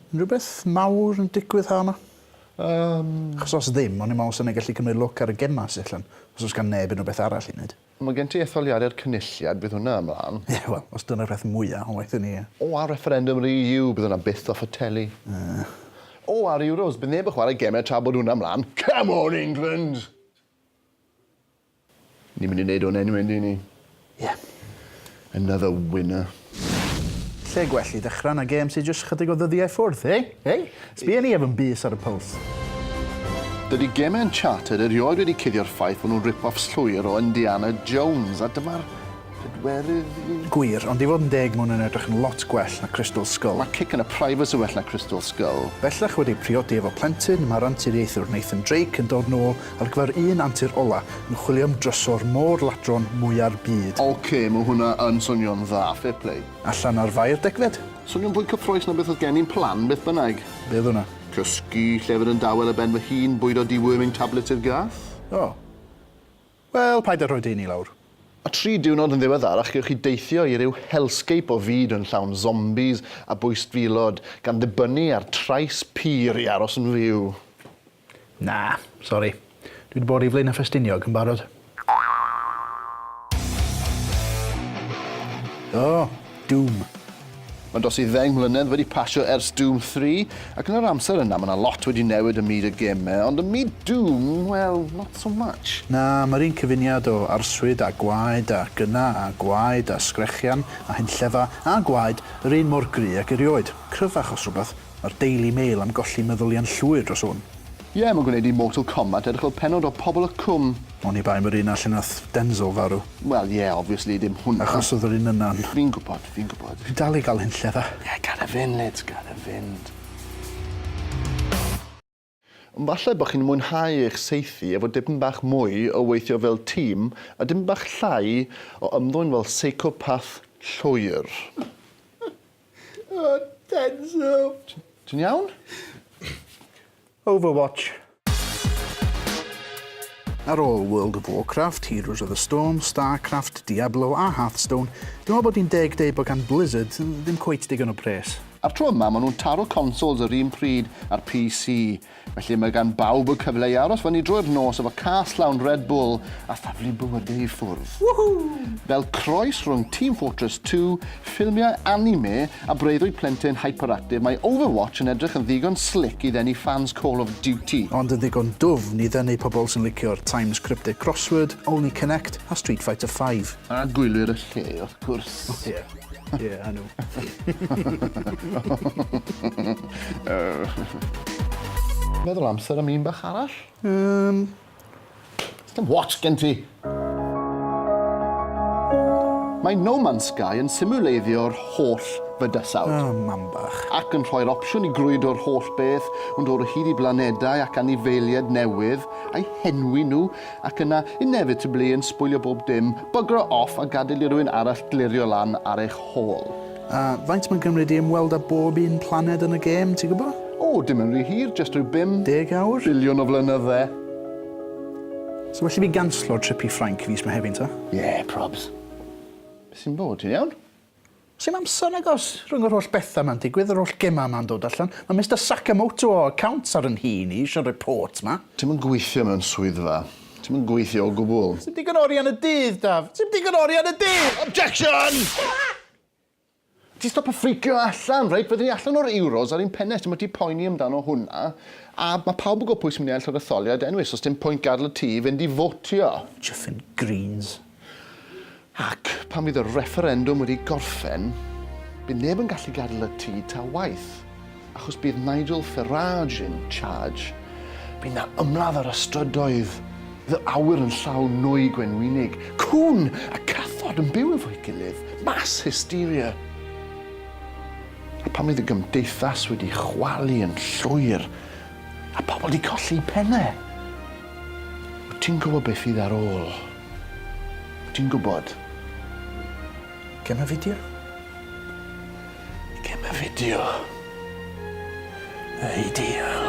Unrhyw beth mawr yn digwydd ha' 'ma? Yym. Achos os ddim, o'n i'n me'wl 'sen ni gallu cymryd lwc ar y gema sy allan, os o's gan neb unrhyw beth arall i neud. Mae gen ti etholiadau'r Cynulliad, bydd hwnna ymlaen. Ie, wel, os dyna'r peth mwya' o waith i ni, ie. O, a refferendwm yr EU, bydd hwnna byth off y teli. Yy. O, a'r Euros, bydd neb yn chwarae gemau tra bod hwnna ymlaen. Come on, England! Ni'n mynd i neud hwn eniwe yndyn ni? Ie. Another winner. Lle gwell i ddechra na gêm sy jyst chydig o ddyddiau ffwrdd, eh? Hey? Sbia ni efo'n bys ar y pulse. Dydi gemau Uncharted erioed wedi cuddio'r ffaith fod nhw'n rip-offs llwyr o Indiana Jones, a dyma'r Pedwerydd i. Gwir, ond i fod yn deg mae hwn yn edrych yn lot gwell na Crystal Skull. Mae Kick yn y Private yn well na Crystal Skull. Bellach wedi priodi efo plentyn, mae'r anturiaethwr Nathan Drake yn dod nôl ar gyfer un antur ola yn chwilio am drysor môr ladron mwya'r byd. Ok, mae hwnna yn swnio'n dda, fair play. Allan ar Fae'r Degfed. Swnio'n fwy cyffroes na beth oedd gen i'n plan, beth bynnag. Be oedd hwnna? Cysgu, llefydd yn dawel ar ben fy hun, bwydo deworming tablets i'r gath. O! Wel, paid â rhoi dy un i lawr. A tri diwrnod yn ddiweddarach gewch chi deithio i ryw hellscape o fyd yn llawn zombies a bwystfilod, gan ddibynnu ar trais pur i aros yn fyw. Na, sori. Dwi wedi bod i Flaenau Ffestiniog yn barod. O! Doom. Mae'n dros i ddeng mlynedd wedi pasio ers Doom 3, ac yn yr amser yna mae 'na lot wedi newid ym myd y gêmau, ond ym myd Doom, wel, not so much. Na, mae'r un cyfuniad o arswyd a gwaed a gyna a gwaed a sgrechian a hunllefau a gwaed yr un mor gry ag erioed. Cryfach os rhywbeth, Mae'r Daily Mail am golli meddyliau'n llwyr dros hwn. Ie, mae'n gwneud i Mortal Kombat edrych fel pennod o Pobol y Cwm. Oni bai am yr un a lle nath Denzel farw. Wel ie, obviously dim hwnna. Achos oedd yr un yna'n. Fi'n gwybod, fi'n gwybod. Fi'n dal i gael hunllef a. Ie, gad e fynd Liz, gad e fynd. Ond falle bod chi'n mwynhau eich saethu efo dipyn bach mwy o weithio fel tîm a dipyn bach llai o ymddwyn fel seicopath llwyr. O, Denso! Ti'n iawn? Overwatch. Ar ôl World of Warcraft, Heroes of the Storm, Starcraft, Diablo a Hearthstone, dwi'n meddwl bod hi'n deg deud bod gan Blizzard ddim cweit digon o pres. A'r tro yma, maen nhw'n taro consols yr un pryd â'r PC, felly mae gan bawb y cyfle i aros fyny drwy'r nos efo cas llawn Red Bull a thaflu bywydau i ffwrdd. Woohoo! Fel croes rhwng Team Fortress 2, ffilmiau anime a breuddwyd plentyn hyperactive, mae Overwatch yn edrych yn ddigon slick i ddenu ffans Call of Duty. Ond yn ddigon dwfn i ddenu pobl sy'n licio'r Times Cryptic Crossword, Only Connect a Street Fighter V. A gwylwyr y lle, wrth gwrs. O ie. Ie, I know. Meddwl amser am un bach arall? Um... Dim watch gen ti! Mae No Man's Sky yn simuleiddio'r holl fydysawd. Oh, mam bach. Ac yn rhoi'r opsiwn i grwydro'r holl beth, yn dod o hyd i blanedau ac anifeiliaid newydd, a'i henwi nhw, ac yna inevitably yn sbwylio bob dim, bygro off a gadael i rywun arall glirio lan ar eich hôl. A faint mae'n cymryd i ymweld â bob un planed yn y gêm, ti'n gwybod? O, dim yn rhy hir, jyst rhyw bum... Deg awr? ...biliwn o flynydde. So well i fi ganslo trip i Ffrainc fis Mehefin ta? Ie, probs. Be sy'n bod, ti'n iawn? Sdim amser nag oes, rhwng yr holl betha 'ma'n digwydd, yr holl gema 'ma'n dod allan, ma' Mister Sakamoto o accounts ar 'yn nhŷ i ni isio'r report 'ma. Ti'm yn gweithio mewn swyddfa. Ti'm yn gweithio o gwbwl. Sdim digon o arian y dydd, Daf. Sdim digon o arian y dydd! Objection! Ti stopio ffricio allan, reit? Fydden ni allan o'r Euros ar ein pennes, ti'm o ti poeni amdano hwnna, a ma' pawb yn gwbo pwy sy'n mynd i ennill yr etholiad anyway, so sdim pwynt gadl y tŷ i fynd i fotio. Chuffin' greens. Ac pan fydd y refferendwm wedi gorffen, bydd neb yn gallu gadael y tŷ ta waeth, achos bydd Nigel Farage in charge. Bydd 'na ymladd ar y strydoedd, fydd yr awyr yn llawn nwy gwenwynig, cŵn a cathod yn byw efo'i gilydd, mass hysteria. A pan fydd y gymdeithas wedi chwalu yn llwyr, a pobl wedi colli 'u penne, Wyt ti'n gwybod beth fydd ar ôl? Wyt ti'n gwybod? Gem y fideo? Gem y fideo. Ideal.